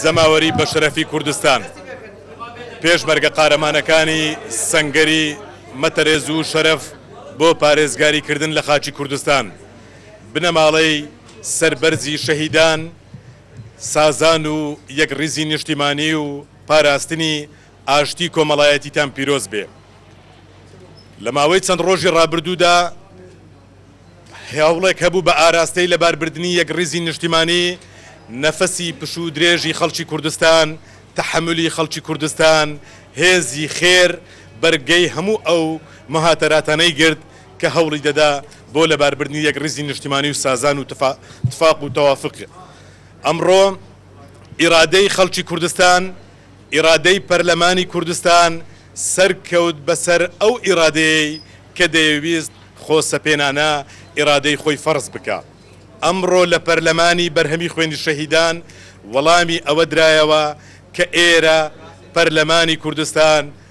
جەماوەری بەشەرەفی کوردستان، پێشمەرگە قارەمانەکانی سەنگەری مە تەرێز و شەرەف بۆ پارێزگاری کردن لە خاکی کوردستان، بنەماڵەی سەربەرزی شەهیدان، سازان و یەک ڕیزی نیشتیمانی و پاراستنی ئاشتی کۆمەڵایەتیتان پیرۆز بێ. لە ماوەی چەند ڕۆژی ڕابردوودا، هێوڵێک هەبوو بە ئاراستەی لەباربردنی یەکڕیزی نیشتیمانی، نەفەسی پشوو درێژی خەڵکی کوردستان، تەحەمولی خەڵکی کوردستان، هێزی خێر بەرگەی هەموو ئەو موهاتەراتانەی گرت کە هەوڵی دەدا بۆ لەباربردنی یەکڕیزی نیشتیمانی و سازان و تفاق و توافق ئەمڕۆ ئیرادەی خەڵکی کوردستان ئیرادەی پەرلەمانی کوردستان سەرکەوت بەسەر ئەو ئیرادەیەی کە دەیەویست خۆسەپێنانە ئیرادەی خۆی فەرز بکا. ئەمڕۆ لە پەرلەمانی بەرهەمی خوێنی شەهیدان وەڵامی ئەوە درایەوە کە ئێرە، پەرلەمانی کوردستان،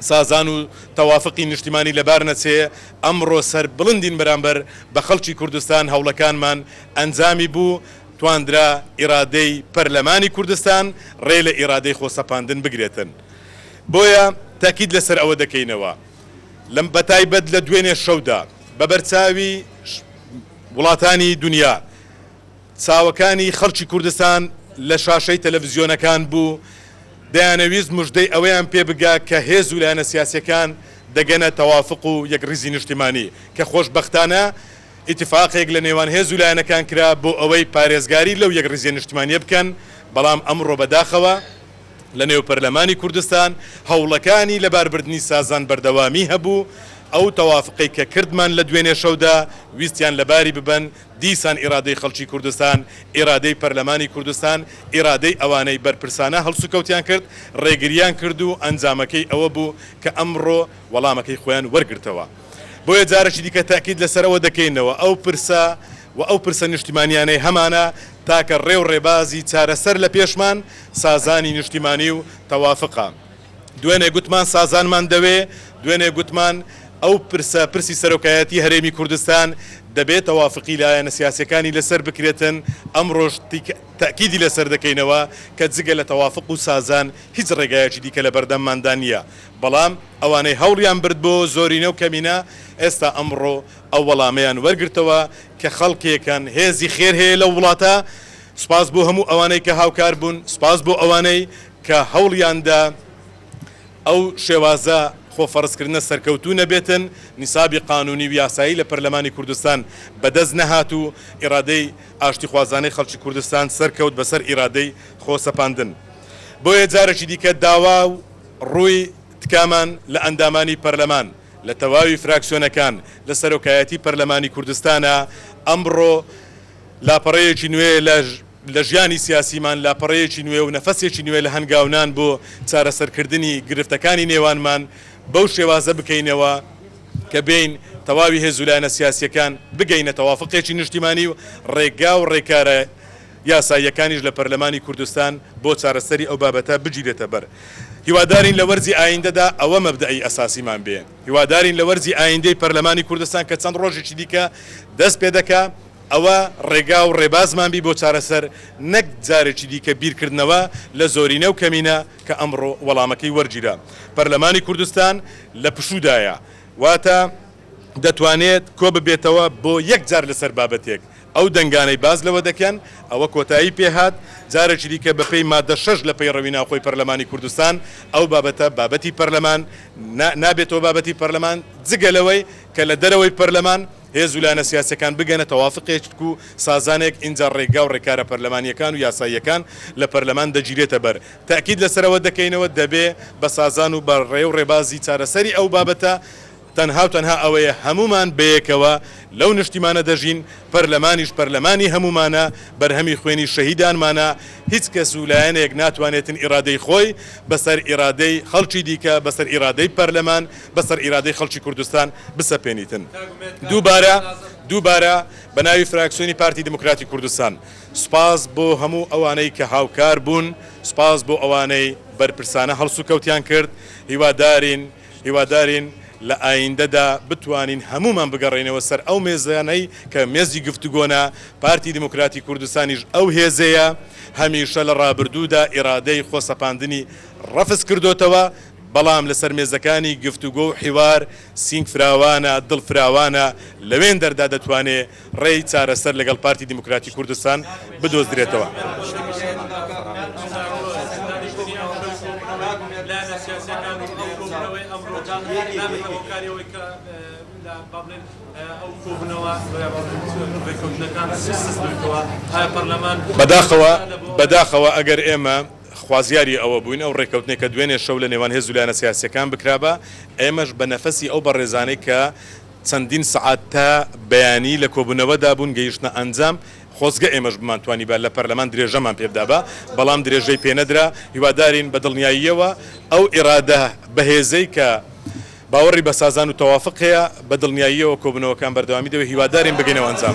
سازان و تەوافقی نیشتیمانی لەبار نەچێ، ئەمڕۆ سەربڵندین بەرامبەر بە خەڵکی کوردستان، هەوڵەکانمان ئەنجامی بوو، تواندرا ئیرادەی پەرلەمانی کوردستان ڕێ لە ئیرادەی خۆ سەپاندن بگرێتن. بۆیە تەکید لە سەر ئەوە دەکەینەوە لە بەتایبەت لە دوێنێ شەودا بە بەرچاوی وڵاتانی دونیا، چاوەکانی خەڵکی کوردستان لە شاشەی تەلەڤزیۆنەکان بوو، دەیانەویست مژدەی ئەوەیان پێ بگا کە هێز و لایەنە سیاسییەکان دەگەنە تەوافق و یەکڕیزی نیشتیمانی، کە خۆشبەختانە ئیتفاقێک لە نێوان هێز و لایەنەکان کرا بۆ ئەوەی پارێزگاری لەو یەکڕیزییە نیشتیمانییە بکەن، بەڵام ئەمڕۆ بەداخەوە لە نێو پەرلەمانی کوردستان هەوڵەکانی لەباربردنی سازان بەردەوامی هەبوو، ئەو تەوافقەی کە کردمان لە دوێنێ شەودا ویستیان لەباری ببەن، دیسان ئیرادەی خەڵکی کوردستان، ئیرادەی پەرلەمانی کوردستان، ئیرادەی ئەوانەی بەرپرسانە هەڵسوکەوتیان کرد، ڕێگرییان کرد و ئەنجامەکەی ئەوە بوو کە ئەمڕۆ وەڵامەکەی خۆیان وەرگرتەوە. بۆیە جارێکی دیکە تەئکید لەسەر ئەوە دەکەینەوە ئەو پرسە و ئەو پرسە نیشتیمانییانەی هەمانە تاکە ڕێ و ڕێبازی چارەسەر لە پێشمان سازانی نیشتیمانی و تەوافقە. دوێنێ گوتمان سازانمان دەوێ، دوێنێ گوتمان ئەو پرسە، پرسی سەرۆکایەتی هەرێمی کوردستان دەبێ تەوافقی لایەنە سیاسیەکانی لەسەر بکرێتن، ئەمڕۆش تەئکیدی لەسەر دەکەینەوە کە جگە لە تەوافق و سازان هیچ ڕێگایەکی دیکە لەبەردەمماندا نیە، بەڵام ئەوانەی هەوڵیان برد بۆ زۆرینە و کەمینە ئێستا ئەمڕۆ ئەو وەڵامەیان وەرگرتەوە کە خەڵکێکن هێزی خێر هەیە لەو وڵاتە، سوپاس بۆ هەموو ئەوانەی کە هاوکار بوون، سوپاس بۆ ئەوانەی. کە هەوڵیاندا ئەو شێوازە خۆفەڕزکردنە سەرکەوتوو نەبێتن، نیسابی قانوونی و یاسایی لە پەرلەمانی کوردستان بەدەست نەهات و ئیرادەی ئاشتیخوازانەی خەڵکی کوردستان سەرکەوت بەسەر ئیرادەی خۆسەپاندن. بۆیە جارێکی دیکە داوا و ڕووی تکامان لە ئەندامانی پەرلەمان لە تەواوی فراکسیۆنەکان لە سەرۆکایەتی پەرلەمانی کوردستانە ئەمڕۆ، لاپەڕەیەکی نوێ لە ژیانی سیاسیمان، لاپەڕەیەکی نوێ و نەفەسێکی نوێ لە هەنگاونان بۆ چارەسەرکردنی گرفتەکانی نێوانمان بەو شێوازە بکەینەوە کە بێین تەواوی هێز و لایەنە سیاسییەکان بگەینە تەوافقێکی نیشتیمانی و ڕێگا و ڕێکارە یاساییەکانیش لە پەرلەمانی کوردستان بۆ چارەسەری ئەو بابەتە بگیرێتە بەر. هیوادارین لە وەرزی ئایندەدا ئەوە مەبدەئی ئەساسیمان بێ. هیوادارین لە وەرزی ئایندەی پەرلەمانی کوردستان کە چەند ڕۆژێکی دیکە دەست پێ دەکا، ئەوە ڕێگا و ڕێبازمان بی بۆ چارەسەر، نەک جارێکی دیکە بیرکردنەوە لە زۆرینە و کەمینە کە ئەمڕۆ وەڵامەکەی وەرگیرا. پەرلەمانی کوردستان لە پشوودایە، واتە دەتوانێت کۆببێتەوە بۆ یەک جار لەسەر بابەتێک، ئەو دەنگانەی باس لەوە دەکەن ئەوە کۆتایی پێ هات، جارێکی دیکە بە پێی ماددە شەش لە پەیڕەوی ناوخۆی پەرلەمانی کوردستان ئەو بابەتە بابەتی پەرلەمان نا، نابێتەوە بابەتی پەرلەمان، جگە لەوەی کە لە دەرەوەی پەرلەمان هێز و لایەنە سیاسیەکان بگەنە تەوافقێک و سازانێک ئینجا ڕێگا و ڕێکارە پەرلەمانیەکان و یاساییەکان لە پەرلەمان دەگیرێتە بەر، تەئکید لەسەر ئەوە دەکەینەوە دەبێ بە سازان و بە ڕێ و ڕێبازی چارەسەری ئەو بابەتە، تەنها و تەنها ئەوەیە هەموومان بەیەکەوە لەو نشتیمانە دەژین، پەرلەمانیش پەرلەمانی هەموومانە، بەرهەمی خوێنی شەهیدانمانە، هیچ کەس و لایەنێک ناتوانێتن ئیرادەی خۆی بەسەر ئیرادەی خەڵکی دیکە، بەسەر ئیرادەی پەرلەمان، بەسەر ئیرادەی خەڵکی کوردستان بسەپێنیتن. دووبارە دووبارە بەناوی فراکسیۆنی پارتی دیموکراتی کوردستان سوپاس بۆ هەموو ئەوانەی کە هاوکار بوون، سوپاس بۆ ئەوانەی بەرپرسانە هەڵسوکەوتیان کرد، هیوادارین، هیوادارین لە ئاییندەدا بتوانین هەموومان بگەڕێینەوە سەر ئەو مێزانەی کە مێزی گفتوگۆنە، پارتی دیموکراتی کوردستانیش ئەو هێزەیە، هەمیشە لە ڕابردوودا ئیرادەی خۆسەپاندنی ڕەفز کردۆتەوە، بەڵام لەسەر مێزەکانی گفتوگۆ و حیوار سینگ فراوانە، دڵ فراوانە، لەوێندەردا دەتوانێ ڕێی چارەسەر لەگەڵ پارتی دیموکراتی کوردستان بدۆزرێتەوە. بەداخەوە ئەگەر ئێمە خوازیاری ئەوە بووین ئەو ڕێککەوتنەی کە دوێنێ شەو لە نێوان هێز و لایەنە سیاسییەکان بکرابا، ئێمەش بە نەفەسی ئەو بەڕێزانەی کە چەندین سەعات تا بەیانی لە کۆبوونەوەدا بوون، گەیشتنە ئەنجام، خۆزگە ئێمەش بمانتوانیبا لە پەرلەمان درێژەمان پێبدابا، بەڵام درێژەی پێنەدرا، هیوادارین بە دڵنیاییەوە ئەو ئیرادە بەهێزەی کە باوەڕی بە سازان و تەوافق هەیە، بە دڵنیاییەوە کۆبوونەوەکان بەردەوامی دەبێت، هیوادارین بگەینەوە ئەنجام.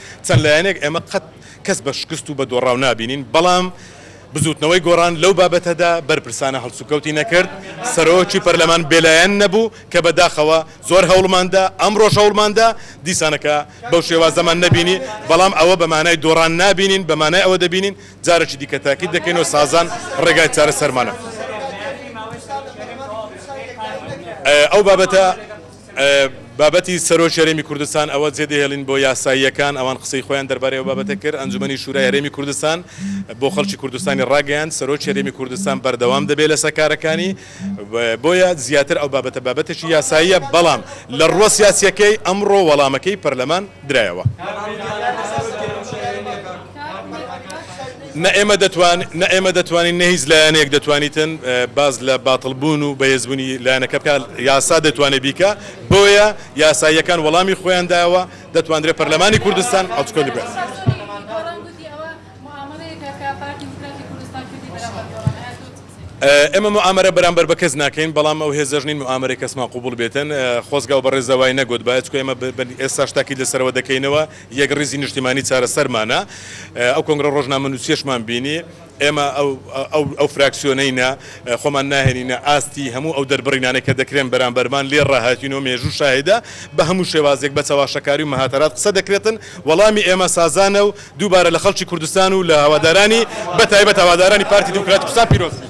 چەند لایەنێک ئێمە قەت کەس بە شکست و بە دۆڕاو نابینین، بەڵام بزووتنەوەی گۆڕان لەو بابەتەدا بەرپرسانە هەڵسوکەوتی نەکرد، سەرۆکی پەرلەمان بێلایەن نەبوو، کە بە داخەوە زۆر هەوڵمان دا، ئەمڕۆش هەوڵمان دا، دیسانەکە بەو شێوازەمان نەبینی، بەڵام ئەوە بە مانای دۆڕان نابینین، بە مانای ئەوە دەبینین جارێکی دیکە تاکید دەکەین و سازان ڕێگای چارەسەرمانە. ئەو بابەتە. بابەتی سەرۆکی هەرێمی کوردستان ئەوە جێدەهێڵین بۆ یاساییەکان، ئەوان قسەی خۆیان دەربارەی ئەو بابەتە کرد. ئەنجومەنی شورای هەرێمی کوردستان بۆ خەڵکی کوردستانی ڕاگەیاند، سەرۆکی هەرێمی کوردستان بەردەوام دەبێت لەسەر کارەکانی، بۆیە زیاتر ئەو بابەتە بابەتێکی یاساییە، بەڵام لە ڕووە سیاسییەکەی ئەمڕۆ وەڵامەکەی پەرلەمان درایەوە. نە ئێمە دەتوان نە ئێمە دەتوانین نە هیچ لایەنێک دەتوانیتن باس لە باتڵ بوون و بەهێز بوونی لایەنەکە بکا یاسا دەتوانێ بیکا بۆیە یاساییەکان وەڵامی خۆیان داوە دەتواندرێ پەرلەمانی کوردستان ئەڵچکۆلی بکا. ئێمە موئامەرە بەرامبەر بە کەس ناکەین بەڵام ئەو هێزەش نین موئامەرەی کەسمان قبوڵ بێتن خۆزگا و بەڕێزەوای نەگوت بایە چکە ئێمە ئێستاش تاکید لەسەرەوە دەکەینەوە یەکڕیزی نیشتیمانی چارەسەرمانە. ئەو کۆنگرە ڕۆژنامەنووسییەشمان بینی. ئێمە ئەو فراکسیۆنەینە خۆمان ناهێنینە ئاستی هەموو ئەو دەربڕینانەی کە دەکرێن بەرامبەرمان، لێ ڕاهاتین و مێژوو شاهیدە، بە هەموو شێوازێک بە چەواشەکاری و مهاتەرات قسە دەکرێتن. وەڵامی ئێمە سازانە و دووبارە لە خەڵکی کوردستان و لە هەوادارانی، بە تایبەت هەوادارانی پارتی دیموکراتی کوردستان پیرۆز بیت.